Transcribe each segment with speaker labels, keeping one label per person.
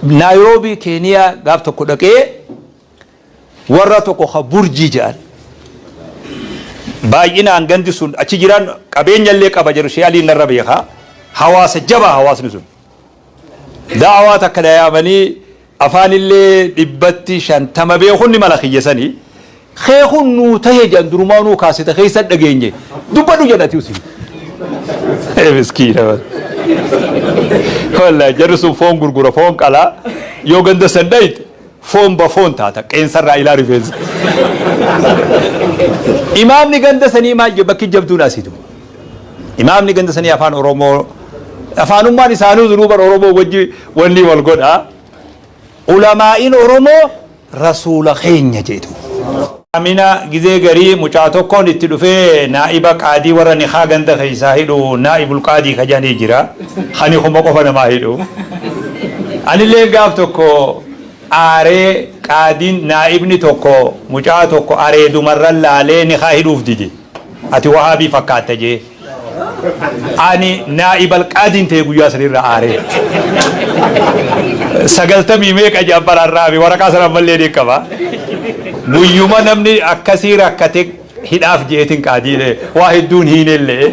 Speaker 1: Naayiroobii Keeniyaa gaaf tokko dhaqee warra tokko ka Burjii jedhan baay'inaan gandi sun achi jiran qabeenya illee qaba jedhu Shee Aliin narra beekaa hawaasa jabaa hawaasni sun da'awaa takka dayaamanii afaan illee dhibbatti shantama beekun ni mala kiyya sanii Kee kun nuu tahe jedhan durumaanuu kaaseta keessa dhageenye dubbadhu jedhan ati usi. Miskiina wallahi jarri sun foon gurgura foon qalaa yoo ganda san dhayxe foon ba foon taata qeensarraa ilaa rifeensa. Imaamni ganda sanii maal jedhe bakki jabduun asitu. Imaamni ganda sanii afaan Oromoo afaanummaan isaanuu duruu bara Oromoo wajji wanni wal godha. Ulamaa'iin Oromoo rasuula keenya jedhu. Amina gizee garii mucaa tokkoon itti dhufee naa'iba qaadii warra nikhaa ganda keessaa hidhu naa'ibul qaadii ka jedhanii jira ka nikuma qofa namaa hidhu anilleen gaaf tokko aaree qaadiin naa'ibni tokko mucaa tokko areedumarran laalee nikhaa hidhuuf dide Ati wahaabii fakkaatta jee Ani naa'ibal qaadiin ta'e guyyaa san irra aaree. Sagaltamii meeqa jedhan baraan raabi waraqaa sana ammallee ni qaba. Guyyuma namni akkasii rakkate hidhaaf jeetin qaadiilee waa hedduun hiinellee.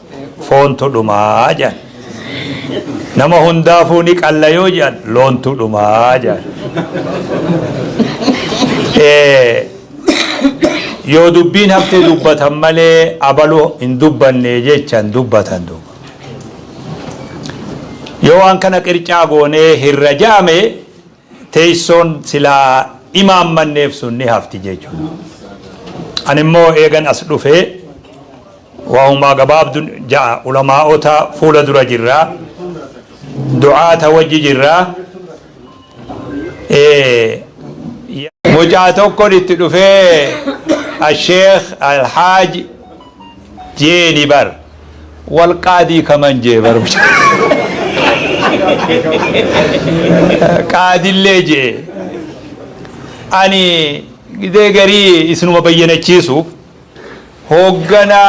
Speaker 1: foontu dhumaa jedhan. Nama hundaafuu ni qalla yoo jedhan loontu dhumaa jedhan. Eh, Yoo dubbiin hafte dubbatan malee abaluu hin dubbanne jechan dubbatan duuba. Yoo waan kana qircaa goonee hirra jaame Teessoon silaa imaammanneef sun ni hafti jechuudha. Ani immoo eegan as dhufee wahumaa gabaabdu ja'a ulamaa'ota fuula dura jirra. Du'aata wajji jirra. Mucaa tokkon itti dhufee Asheekh Alhaaji. jeeni bar wal qaadii kaman jee bar qaadillee jee ani gidee garii isinuma bayyanachiisuuf hooggana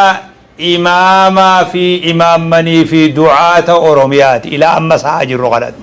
Speaker 1: imaamaa fi imaammanii fi du'aata oromiyaati ilaa amma sa'a jirru kanatti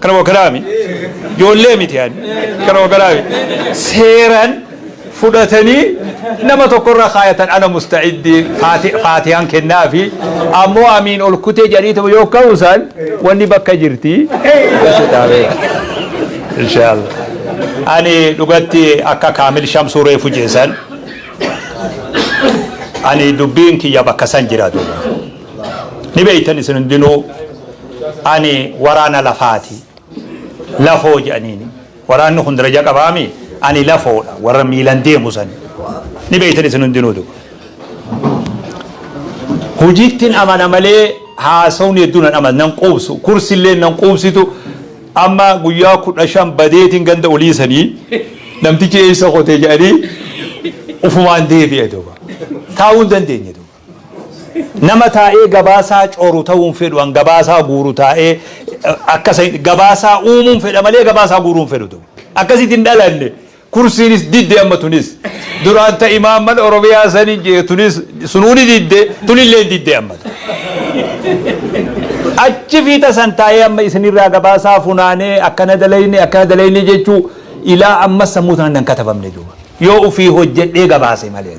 Speaker 1: Kana wakalaami. Ijoollee miti ani. Kana wakalaami. Seeran fudhatanii nama tokkorra kaayatan ana musta'iddii faatihaan kennaa fi ammoo amiin ol kutee jariituma yoo ka'uusaan wanni bakka jirti. Inshaallah. Ani dhugatti akka kaamil shamsuu reefu jeesan ani dubbiin kiyya bakka san jiraatu. ni beeytan isin hundinuu ani waraana lafaati lafoo jedhaniini waraanni kun daraja qabaami ani lafoodha warra miilan deemu san ni beeytan isin hundinuu duba hojiittiin amana malee haasawni hedduun an amana nan quubsu kursillee nan quubsitu amma guyyaa kudha shan badeetiin ganda olii sanii namtichi eessa kotee jedhanii ufumaan deebi'e duba taa'uu hin dandeenye duba Nama taa'ee gabaasaa coru ta'uun fedhu an gabaasaa guuru taa'ee akka isa hin gabaasaa uumuun fedha malee gabaasaa guuruu hin fedhu ture. Akkasitti hin dhalanne. Kursiinis didde amma tunis. Duraan ta imaamman Oromiyaa sani jee tunis sunuu ni didde tunillee hin didde amma. Achi fiixa san taa'ee amma isinirraa gabaasaa funaanee akkana dalayne akkana dalayne jechuu ilaa amma sammuu tanaan nan katabamne duuba. Yoo ofii hojjedhee gabaase malee.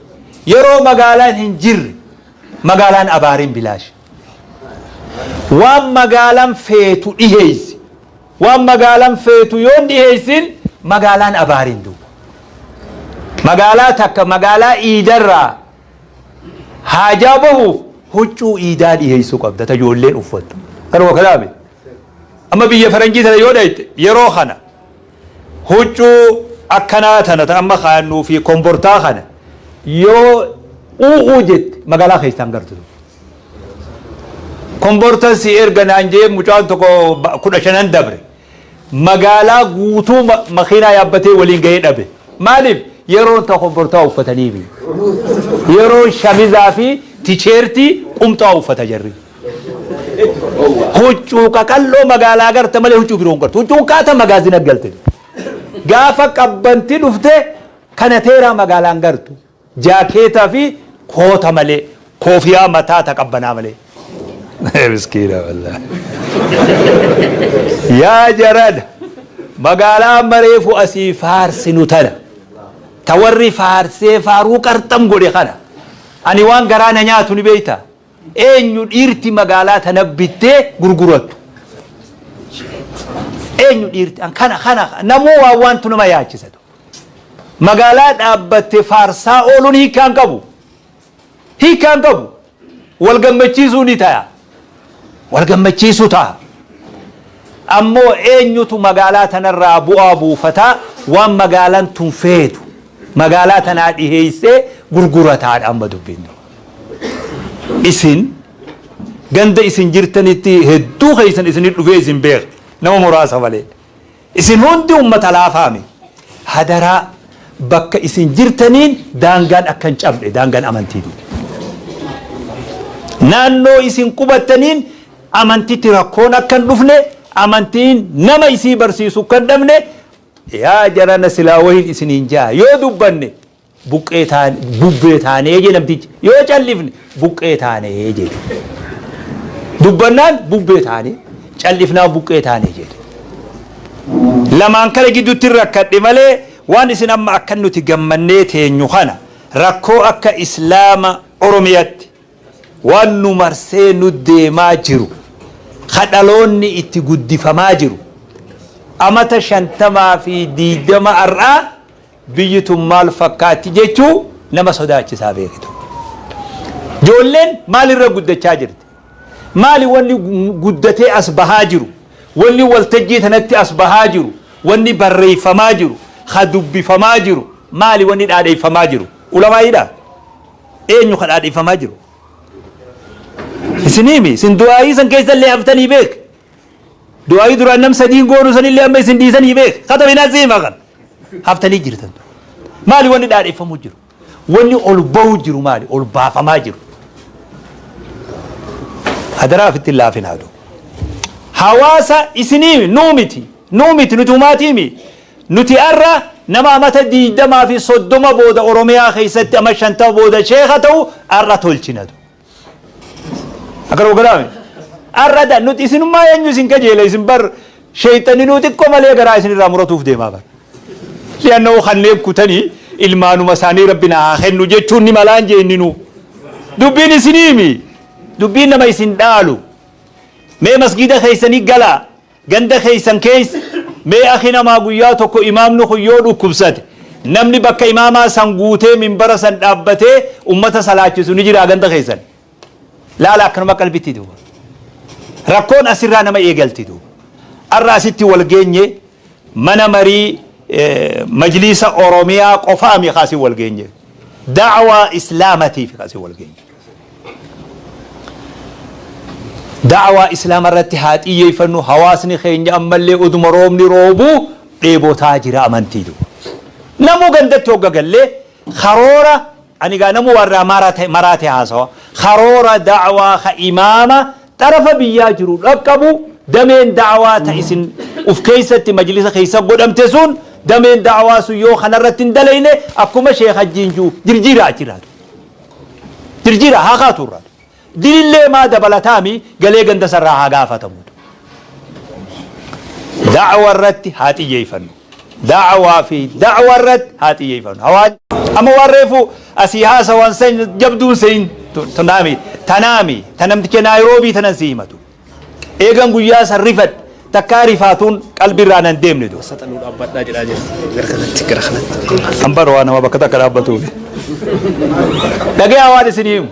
Speaker 1: Yeroo magaalaan hin jirre magaalaan abaarin bilaashi. Waan magaalan feetu dhiheessi. Waan magaalan feetu yoo hin dhiheessin magaalaan abaarin duwwa. Magaalaa takka magaalaa iidarraa haajaa bahuuf huccuu iidaa dhiheessuu qabda ta ijoolleen uffattu. Kanuma kalaame. Amma biyya faranjii tana yoo dhayxe yeroo kana Huccuu akkanaa tana ta amma kaayannuu fi kombortaa kana yoo u'uu jette magaalaa keessaa hin gartu. Kombortan si erga naan jee mucaan tokko kudha shanan dabre magaalaa guutuu makiinaa yaabbatee waliin gahee dhabe. Maaliif yeroon ta kombortaa uffataniifi. Yeroon shamizaa fi ticheertii qumxaa uffata jarri. Huccuu qaqal'oo magaalaa garte malee huccuu biroo hin gartu. Huccuun kaata magaazina galte. Gaafa qabbanti dhufte kana teeraa magaalaan gartu. Jaakeetaa fi koota malee koofiyaa mataa ta qabbanaa malee. Miskiina wallah. Yaa jarana magaalaa amma reefu asii faarsinu tana. Ta warri faarsee faaruu qarxam godhe kana. Ani waan garaa na nyaatu ni beektaa? Eenyu dhiirti magaalaa tana bittee gurgurattu? Eenyu dhiirti? An kana kana namuu waan waantu nama yaachisa. Magaalaa dhaabbatte faarsaa ooluun hiikkaa hin qabu. Hiikkaa hin qabu. Wal gammachiisuu ni ta'a. Wal gammachiisuu ta'a. Ammoo eenyutu magaalaa tanarraa bu'aa buufata waan magaalaan tun feetu magaalaa tanaa dhiheessee gurgurataadha amma dubbiin. Isin ganda isin jirtanitti hedduu keessan isinit dhufee isin beeka nama muraasa malee. Isin hundi ummata laafaami. Hadaraa bakka isin jirtaniin daangaan akka hin cabne daangaan amantii dide. Naannoo isin qubattaniin amantitti rakkoon akka hin dhufne amantiin nama isii barsiisu akka hin dhabne yaa jarana silaa wahiin isiniin jaa yoo dubbanne Buqqee taane, bubbee taanee jee namtichi. Yoo callifne buqqee taanee jee. Dubbannaan bubbee taanee, callifnaan buqqee taanee jee. Lamaan kana gidduutti rakkadhe malee waan isin amma akka nuti gammannee teenyu kana rakkoo akka Islaama Oromiyatti waan nu marsee nu deemaa jiru ka dhaloonni itti guddifamaa jiru amata shantamaa fi diidama har'aa Biyyi tun maal fakkaatti jechuu nama sodaachisaa beektu. Ijoolleen maal irra guddachaa jirti? Maali wanni guddatee as bahaa jiru? Wanni waltajjii tanatti as bahaa jiru? Wanni barreeffamaa jiru? Ka dubbifamaa jiru? Maali wanni dhaadheeffamaa jiru? Ulamaa'iidha? Eenyu ka dhaadheeffamaa jiru? Isin himi, isin du'aa'ii san keessallee haftanii beek. Du'aa'ii duraan nam sadiin goonu sanillee amma isin dhiisanii beek kata binaa siimaa kan haftanii jirtan maali wanni dhaadheeffamuu jiru wanni ol ba'uu jiru maali ol baafamaa jiru hadaraa ofitti hin laafin haadhu hawaasa isinii nuu miti nuu miti nuti umaatii mi nuti arra nama amata diigdamaa fi soddoma booda oromiyaa keessatti ama shantama booda sheeka ta'u arra tolchinatu Akka nu galaame. Arrada nuti isinummaa eenyu isin kajeela isin bar sheeyxanni nuu xiqqoo malee garaa isinirraa muratuuf deemaa bar. Li'annoo kanneen kutanii ilmaanuma isaanii rabbi na haa kennu jechuun ni malaan jeenninuu. Dubbiin isinii mi? Dubbiin nama isin dhaalu. Mee masgiida keessanii galaa. Ganda keessan keessa mee akhi namaa guyyaa tokko imaamni kun yoo dhukkubsate namni bakka imaamaa san guutee minbara san dhaabbatee ummata salaachisu ni jiraa ganda keessan? Laala akkanuma qalbitti duuba. Rakkoon asirraa nama eegalti duuba. Har'a asitti wal geenye mana marii majliisa Oromiyaa qofaami ka asin wal geenye. Da'awaa Islaamatiif ka asin wal geenye. Da'awaa Islaama irratti haa xiyyeeffannu, hawaasni keenya ammallee oduma roobni roobuu dheebotaa jira amantii duwwa. Namuu gandatti hogga gallee karoora ani egaa namuu waan irraa marate maraate haasawa. Karoora da'awaa ka imaama xarafa biyyaa jiru dhaqqabu dameen da'awaa ta isin uf keessatti majlisa keessa godhamte sun dameen da'awaa sun yoo kana irratti hin dalayne akkuma sheekh hajjiin ji'u jirjiiraa achi irraa. Jirjiira haa kaatu irraa. Dilillee maa dabalataami galee ganda sarraa haa gaafatamu. Da'awa irratti haa xiyyeeyfannu. Da'awaa fi da'awa irratti haa xiyyeeyfannu. Hawaan amma waan reefu asii haasa waan san jabduun sein tanaami tanaami tanamticha naayiroobii tanan si himatu. Eegan guyyaa san rifadhe takkaa rifaatuun qalbii irraa nan deemne dura. Saxanuu dhaabbadhaa jedhaa
Speaker 2: jira. Gara kanatti gara kanatti. An bara
Speaker 1: waa nama bakka takka dhaabbatuuf. Dhagayaa waan isinii himu.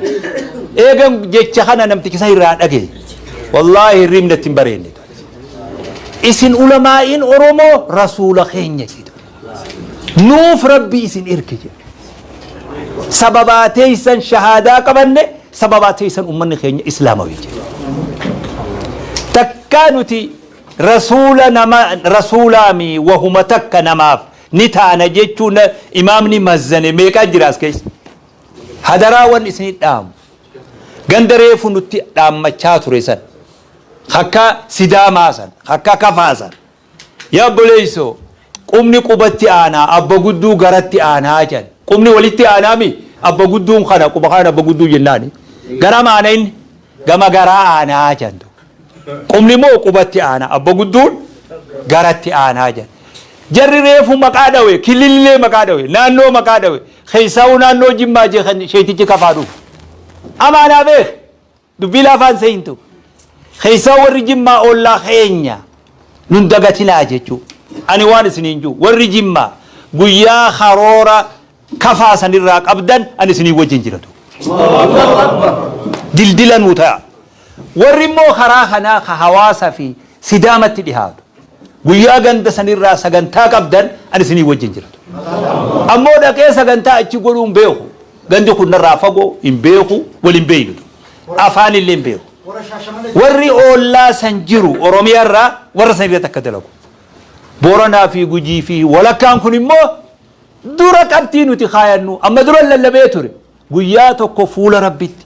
Speaker 1: Eegan jecha kana namtichi san irraa dhagaye. Wallaahi hirriibni natti hin bareenne. Isin ulamaa'iin Oromoo rasuula keenya jedhu. nuuf rabbi isin erge jedhe sababaa teeysan shahaadaa qabanne sababaa teeysan ummanni keenya islaamawii jedhe takkaa nuti rasuula nama rasuulaami wahuma takka namaaf ni taana jechuun imaamni mazzane meeqaa jiraas keessa hadaraa wan isin dhaamu ganda reefu nutti dhaammachaa ture san akka sidaamaa san akka kafaa san Yaa obboleesso! Qubni qubatti aanaa, abba gudduu garatti aanaa jedhan. Qubni walitti aanaa mi? Abba gudduun kana quba kanaan abba gudduu jennaan. Garam aana inni? Gama garaa aanaa jedhan duuba. Qubni moo qubatti aanaa, abba gudduun garatti aanaa jedhan. Jarri reefu maqaa dhawe, kilillee maqaa dhawe, naannoo maqaa dhawe, keessaahuu naannoo Jimmaa je kan sheetichi kafaa dhufu. Amaa naa beeki! Dubbii laafaa hin seeyintu. Keessaa warri jimmaa ollaa keenya nun dagatinaa jechuu. Ani waan isiniin juu warri jimmaa guyyaa karoora kafaa sanirraa qabdan ani isiniin wajjin jiratu. Dildila nuu ta'a. Warri immoo karaa kanaa ka hawaasa fi sidaamatti dhihaatu. Guyyaa ganda sanirraa sagantaa qabdan ani isiniin wajjin jiratu. Ammoo dhaqee sagantaa achi godhuun beeku. Gandi kun narraa fagoo, hin beeku, wal hin beeknu du. Afaan illee hin beeku. Warri oollaa san jiru Oromiyaa irraa warra san irratti akka dalagu. Booranaa fi Gujii fi walakkaan kun immoo dura qabxii nuti kaayannu amma duran lallabee ture. Guyyaa tokko fuula Rabbitti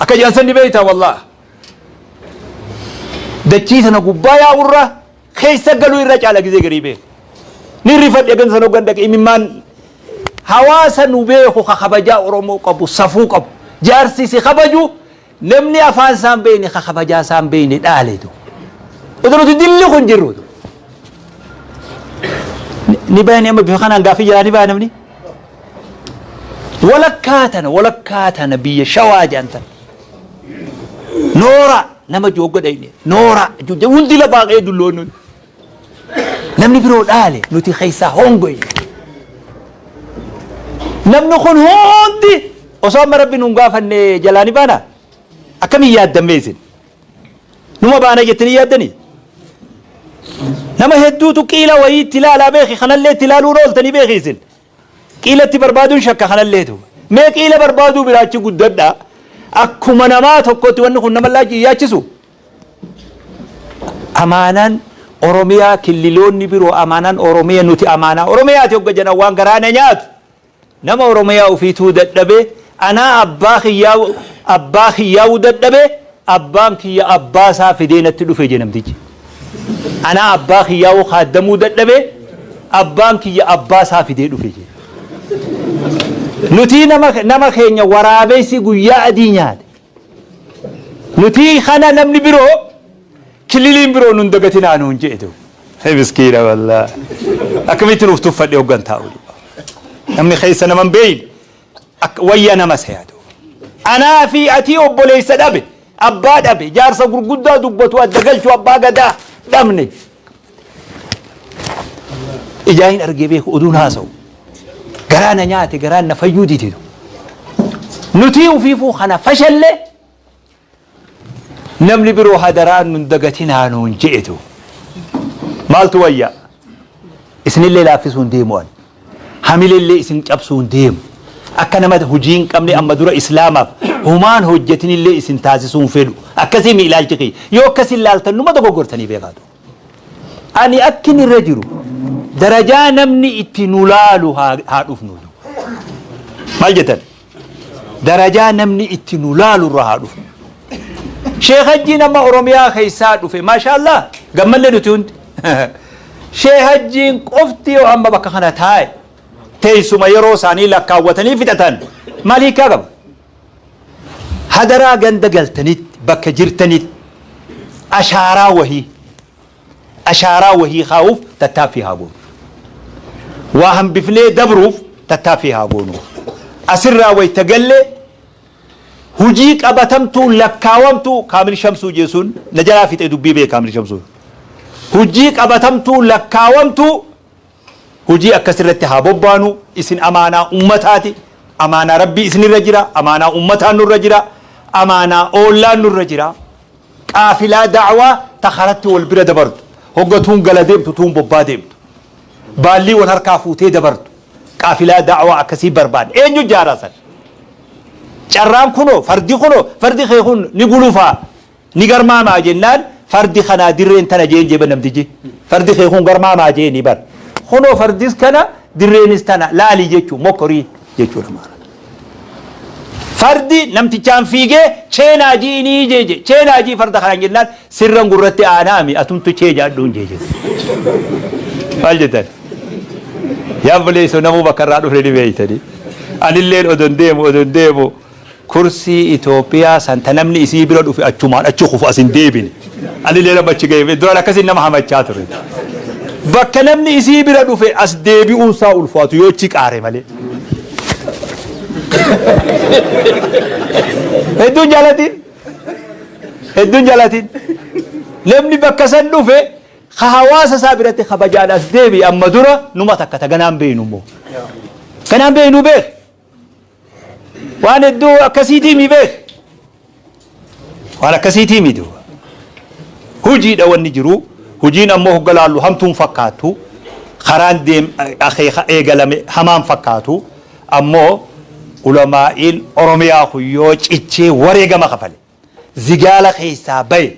Speaker 1: akka jedhan san ni beektaa wallah dachii sana gubbaa yaa'urra keessa galuu irra caala gizee garii beeku ni rifadhe gan san hoggan dhaqe imimmaan hawaasa nu beeku ka kabajaa oromoo qabu safuu qabu jaarsi si kabaju namni afaan isaan beeyne ka kabajaa isaan beeyne dhaaletu utuu nuti dilli kun jirru utuu. ni bayan amma bifa kanaan gaafii jalaa ni baya namni Walakkaa tana walakkaa tana biyya shawaa jedhan tana. Nooraa nama joogga dhayne nooraa jujja hundi lafaa ka'ee dulloonni hundi. Namni biroo dhaale nuti keessaa hongoye. Namni kun hundi osoo amma rabbi nun gaafanne jalaa ni baana akkamiin yaaddammee isin. Numa baana jettanii yaaddanii? Nama hedduutu qiila wayii itti ilaalaa beeki kanallee itti ilaaluun ooltanii beeki isin. Qiila itti barbaaduun shakka kanalleetu. Mee qiila barbaaduu biraachi guddadha. Akkuma namaa tokkootti wanni kun nama laachi hin yaachisu. Amaanaan Oromiyaa killiloonni biroo amaanaan Oromiya nuti amaanaa Oromiyaati hogga jedhan waan garaa na nyaatu. Nama Oromiyaa ufiituu dadhabee anaa abbaa kiyyaa abbaa kiyyaawu dadhabee Abbaan kiyya abbaa isaa fidee natti dhufe jedhe namtichi. Anaa abbaa kiyyaa hoo kaaddamuu dadhabe abbaan kiyya abbaa isaa fidee dhufe jedhe. Nutii nama, nama keenya waraabessi guyyaa adii nyaate. Nutii kana namni biroo kililiin biroo nun dagatinaa nuun jedhe ta'u. Hee miskiina wallaa. Akkamitti nuuf tuffadhe hoggan taa'u. Namni keessa nama hin beeyne. Akka wayya nama isa yaadu. Anaa fi atii obboleessa dhabe, abbaa dhabe, jaarsa gurguddaa dubbatu adda galchu abbaa gadaa dhabne. Ijaa hin argee beeku oduun haasa'u. Garaa na nyaate garaan na fayyuu dititu. Nutii ufiifuu kana fashalle Namni biroo hadaraa nun dagatinaa nuun je'etu maaltu wayya? Isinillee laaffisuun deemu ani. Hamilellee isin cabsuun deemu. Akka nama hujii hin qabne amma dura Islaamaaf humaan hojjatinillee isin taasisuun fedhu. Akkasiimi ilaalchi kiyya. Yoo akkasi laaltan numa dogoggortanii beekaa tu. Ani akkin irra jiru darajaa namni itti nu laalu haa haa dhufnu. Maal jettan? darajaa namni itti nu laalu irra haa dhufu sheekh hajjiin amma oromiyaa keessaa dhufe maashaallah gammanne nuti hundi sheekh hajjiin qofti yoo amma bakka kana taa'e teessuma yeroo isaanii lakkaawwatanii fixatan maal hiikaa qaba hadaraa ganda galtanitti bakka jirtanitti ashaaraa wahii Ashaaraa wahii kaa'uuf tattaaffii haa goonu. Waa hambifnee dabruuf tattaaffii haa goonu. Asirraa wayita galle hujii qabatamtuu lakkaawamtuu Kaamil Shamsuu jeesuun na jalaa fixe dubbii bee Kaamil Shamsuu. Hujii qabatamtuu lakkaawamtuu. Hojii akkasii irratti haa bobbaanu, isin amaanaa ummataati, amaanaa Rabbii isinirra jira, amaanaa ummataa nurra jira, amaanaa oollaan nurra jira. Qaafilaa da'awaa ta karatti wal bira dabartu, hogga tuun gala deemtu tuun bobbaa deemtu, baallii wal harkaa fuutee dabartu, qaafilaa da'awaa akkasii barbaanna. Eenyu ijaaraa san? Carraan kunoo, fardi kunoo, fardi kee kun ni gulufaa. Ni garmaamaa jennaan fardi kanaa dirreen tana jeen jee bar namtichi. Fardi kee kun garmaamaa jeeni bar. Kunoo fardis kana dirreenis tana laali jechuun mokkorii jechuun amaara. Fardi namtichaan fiigee chee naa ji'inii jee jee chee naa ji'i farda kanaan jennaan sirran gurratti aanaami atumtu chee jaadhuun jee jee. Maal jettan? Yaa obboleessoo namuu bakka irraa dhufne ni beektanii. Anilleen odon deemu odon deemu Kursii Ethiopia san ta namni isii bira dhufe achumaan achi kufu as hin deebine. Anileen amma achi gahe duraan akkasiin nama hamachaa ture. Bakka namni isii bira dhufe as deebi'uun isaa ulfaatu yoo achi qaare malee. Hedduun jaalatiin. Hedduun jaalatiin. Namni bakka san dhufe ka hawaasa isaa biratti kabajaan as deebi'e amma dura numa takka ta ganaan beeynu immoo. Ganaan beeynu beek. Waan hedduu akkasiitii mi beek. Waan akkasiitii mi duuba. Hojiidha wanni jiru. Hojiin ammoo hogga laallu hamtuun fakkaattu. Karaan deem akeeka eegalame hamaan fakkaatu. Ammoo ulamaa'iin Oromiyaa kun yoo cichee wareegama kafale. zigaala keessaa baye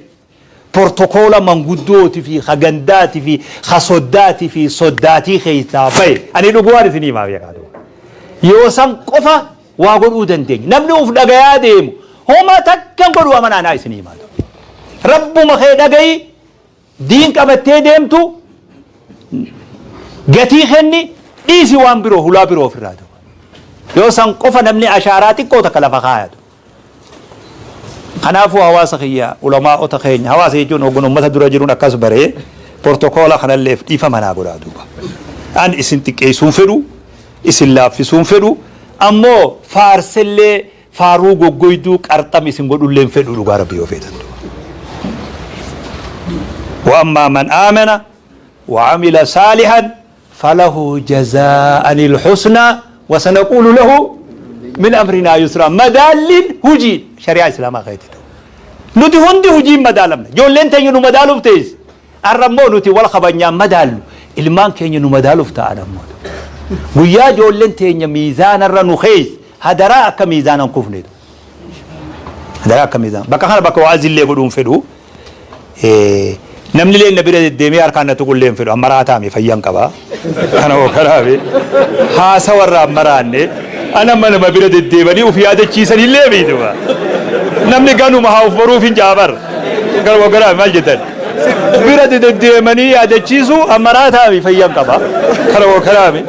Speaker 1: portokoola manguddooti fi ka gandaati fi ka soddaati fi soddaatii keessaa baye ani dhugumaan isinii himaa beekaa ta'u yoo san qofa waa godhuu dandeenya namni uf dhagayaa deemu homa takkan godhu amanaa naa isinii himaa ta'u rabbuma kee dhagayi Diin qabattee deemtu gatii kenni dhiisi waan biroo hulaa biroo ofirraa ta'u. Yoo san qofa namni ashaaraa xiqqoo takka lafa kaayatu. Kanaafuu hawaasa kiyya ulamaa'ota keenya hawaasa jechuun hoggan uummata dura jiruun akkas baree portokoola kanalleef dhiifama naa godhaa duuba. An isin xiqqeessuun fedhu isin laaffisuun fedhu ammoo faarsellee Faaruu goggoyduu qarxam isin godhullee hin fedhuu dhugaa rabbii yoo feetan duuba. Wa ammaa man aamana wa amila saalihan falahu jazaa'anil husnaa wa sanaquulu lahu min amrinaa yusraa madaalliin hujiin shari'aa islaamaa keetti ta'u. Nuti hundi hujiin madaalamna. Ijoolleen teenya nu madaaluuf teessi. Arra immoo nuti wal kabajnaan madaallu ilmaan keenya nu madaaluuf taa'an ammoo tu. Guyyaa ijoolleen teenya miizaana irra nu keeyse hadaraa akka miizaana hin kufne tu. Hadaraa akka miizaana. Bakka kana bakka wa'azi illee godhuu hin fedhu. Eh, Namni illee na bira deddeemee harkaan na tuqu illee hin fedhu. Amma raataa mi fayyan qaba. Kana hoo kanaafii haasawa irraa hin maraanne ana amma nama bira deddeebanii uf yaadachiisan hin leebiiduma. Namni ganuma haa uf baruuf hin jaabar. Kana hoo kanaaf maal jettan? Bira deddeemanii yaadachiisu ammaraa taa'aami fayyan qaba. Kana hoo kanaafii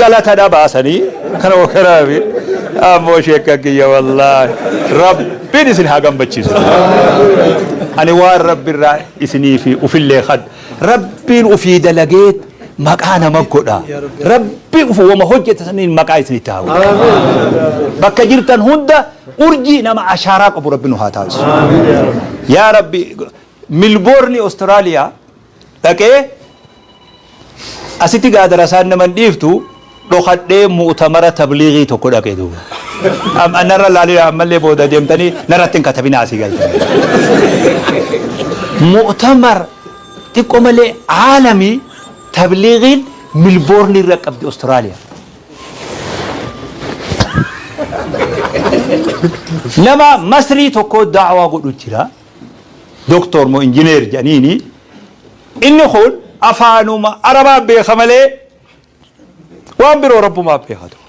Speaker 1: galata dhabaasanii kana hoo kanaafii ammoo sheekka kiyya wallaahi rabbiin isin haa gammachiisu. Ani waan rabbi irraa isinii fi ufillee kadha. Rabbiin ufii dalagee maqaa nama godha. Rabbi ufu wama hojjete saniin maqaa isinitti haa godhu. Bakka jirtan hunda urjii nama ashaaraa qabu rabbi nu haa taasisu. Yaa rabbi milboorni Awustiraaliyaa dhaqee asitti gaadara isaan nama hin dhiiftu dhokadhee mu'utamara tabliighii tokko dhaqe duuba. Am- Narra laalina ammallee booda deemtanii narratti hin katabinaa asii galtanii. Mu'utamar xiqqoo malee aalamii tabliighiin milboorni irra qabdi Awustiraaliyaa. Nama masrii tokko daawaa godhu jira. Doktor moo injineer jedhaniini. Inni kun afaanuma arabaa beeka malee waan biroo rabbumaa beekaa ta'u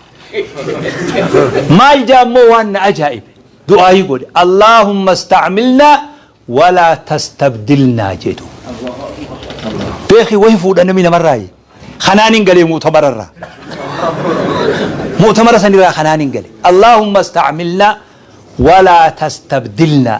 Speaker 1: maal jaa immoo waan na ajaa'ibe du'aayii godhe allaahumma istacmilnaa walaa tastabdilnaa jedhu beeki wahi fuudha namni namarraayi kanaan hin galee muutamararraa mu'tamara sanirraa kanaan hin gale allaahumma istacmilnaa walaa tastabdilnaa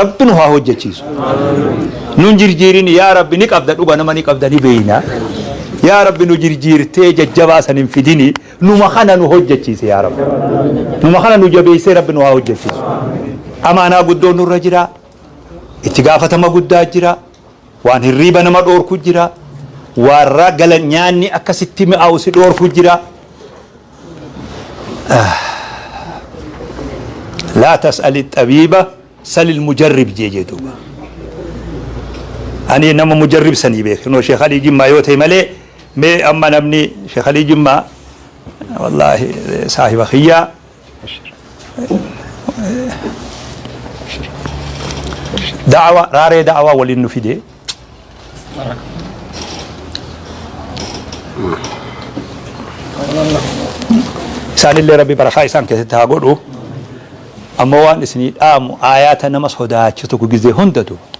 Speaker 1: rabbi nu haa hojjechiisu nun jirjiirin yaa rabbi ni qabda dhuga nama ni qabda ni beeyna yaa rabbi nu jirjiirtee jajjabaa san hin fidini numa kana nu hojjechiise yaa rabbi numa kana nu jabeessee rabbi nu haa hojjechiisu amaanaa guddoo nurra jira itti gaafatama guddaa jira Waan hirriiba nama dhoorku jira. Waan raa gala nyaanni akka sitti mi'aawu si dhoorku jira. Laa tas'ali xabiiba salil mujarrib jee jee duuba. Ani nama mujarrib sanii beeke. Noo Sheekh Alii Jimmaa yoo ta'e malee mee amma namni Sheekh Alii Jimmaa wallaahi saahiba kiyyaa. da'awa raaree da'awa waliin nu fide isaanillee rabbi barakaa isaan keessatti haa godhu ammoo waan isinii dhaamu aayaata nama sodaachisu gizee hundatu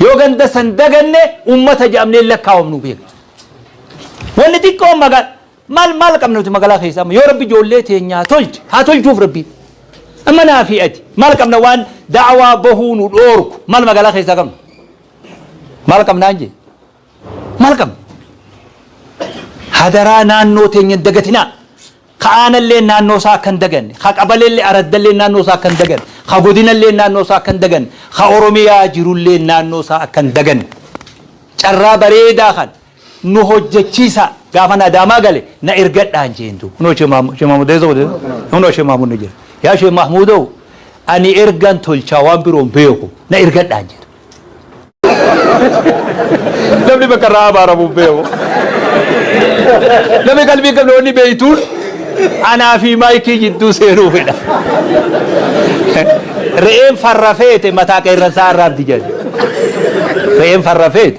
Speaker 1: Yoo ganda san daganne ummata jedhamnee lakkaawamnu beeka. Wanni xiqqoo magaa maal maal qabna nuti magaalaa keessa amma yoo rabbi ijoollee teenyaa tolche haa tolchuuf rabbi. Amma naa fi ati maal qabna waan da'awaa bahuu nu dhoorku maal magaalaa keessaa qabna. Maal qabnaan jee Maal qabna? Hadaraa naannoo teenya hin dagatinaa. Ka aanallee naannoo isaa akka hin daganne, ka qabaleellee araddallee naannoo isaa akka hin daganne, ka godinallee naannoo isaa akka hin daganne, ka Oromiyaa jirullee naannoo isaa akka hin daganne. Carraa bareedaa kan nu hojjechiisaa gaafan Adaamaa gale na ergadhaan jeen duuba. Kunoo Shee Maamud, Shee Maamud eessa godhe? Kunoo Shee Maamud ni jira. Yaa Shee Mahmuudoo ani ergan tolchaa waan biroon beeku na ergadhaan jedha. Namni bakka irraa abaaramuuf beeku. Namni qalbii qabne wanni beektuun anaa fi maayikii jidduu seenuu fedha. Re'een farra feete mataa qeerransaa arraabdi jedhe. Re'een farra feete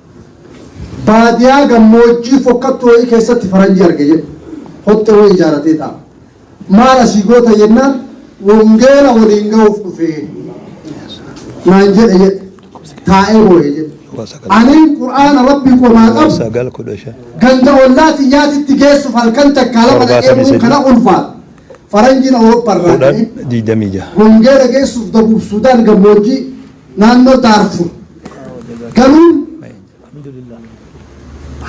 Speaker 3: Baadiyaa gammoojjii fokkattu wayii keessatti faranjii arge jedhe. Hoxxee wayii ijaaratee taa'a. Maal asii goota jennaan wongeela waliin ga'uuf dhufe naan jedhe jedhe. Taa'ee boo'e jedhe. Aniin Qur'aana Rabbii qomaa qabu sagal kudha shan ganda ollaa xiyyaatitti geessuuf halkan takkaa lama Torbaatamii dhaqee sadii. kana ulfaata. Faranjiin Awurooppaa irraa kudhan ka'e. digdamii jaha
Speaker 1: wongeela geessuuf
Speaker 3: dabuuf Sudaan gammoojjii naannoo Daarfur galuun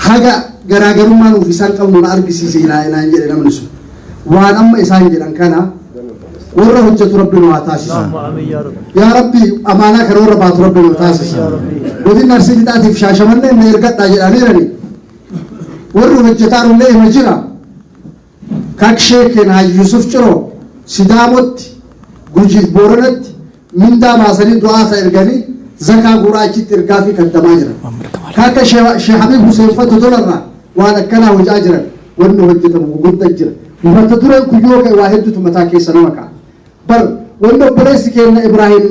Speaker 3: haga garaagarummaa nuuf isaan qabnu na argisiise ilaa inaan jedhe namni sun waan amma isaan jedhan kana warra hojjetu rabbi nu haa taasisa yaa rabbi amaanaa kana warra baatu rabbi nu haa taasisa godin arsii lixaatiif shaashamanneen na ergadhaa jedhaniirani warri hojjetaa illee hima jira Kak Shee Kena Yusuf Ciro, Sidaamotti, Gujiif Booranatti mindaa baasanii du'aa ka ergani, zakaa guuraa achitti ergaafi kaddamaa jiran. Ka akka Shee Habiib Huseen fa Dodolarraa waan akkanaa hojaa jiran wanni hojjatamu gugudda jira. Mata dureen kun yoo ka'e waa heddutu mataa keessa nama ka'a. Bar wanni obboleessi keenna Ibraahim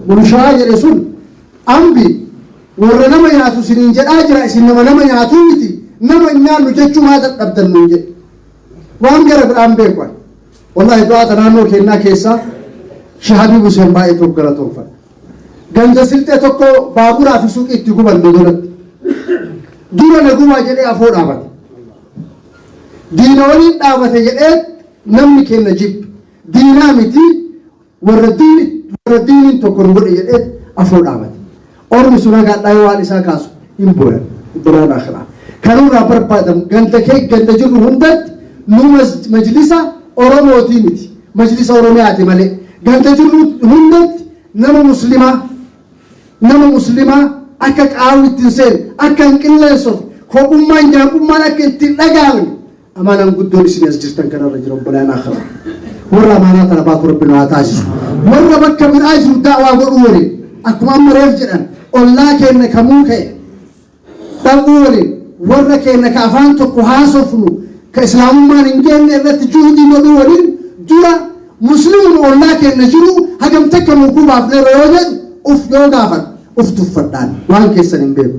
Speaker 3: Mulushaa jedhe sun Ambi Worra nama nyaatu isiniin jedhaa jira, isin nama nama nyaatuu miti, nama hin nyaannu jechuu maa dadhabdan nuun jedhe. Waan gara biraa hin beeku ani. Wallaahi du'aata naannoo keennaa keessaa Sheikh Habiib Huseen baay'ee tokko galatoomfadha. Ganda silxee tokko baaburaa fi suuqii itti guban dodolatti. Dura na gubaa jedhee afoo dhaabate. Diina waliin dhaabate jedhee namni keenna jibbe. Diinaa miti Warra diini warra diiniin tokko nu godhe jedhee afoo dhaabate. Ormi sun haga hadhaa yoo waan isaa kaasu hin booyan. Biraan akhiraa. Kanurraa barbaadamu ganda kee ganda jirru hundatti nu majlisa Oromootii miti. Majlisa Oromiyaati malee. Ganda jirru hundatti nama muslimaa nama muslimaa akka qaawwi ittiin seenu akka hin qilleensofne kophummaan jaabummaan akka ittiin dhagaamne Amaanaan guddoon isin as jirtan kanarra jira obbolaan akhiraa. Warra amaanaa tana baatu rabbi nu haa taasisu. Warra bakka biraa jiru daawaa godhuu waliin akkuma amma reef jedhan ollaa keenna ka muuka'e dhabuu waliin warra keenna ka afaan tokko haasofnu ka islaamummaan hin geenne irratti juhudii godhuu waliin dura musliimuma ollaa keenna jiru hagam takka muukuu baafneerra yoo jedhu uf yoo gaafadhu uf tuffadhaan waan keessan hin beeku.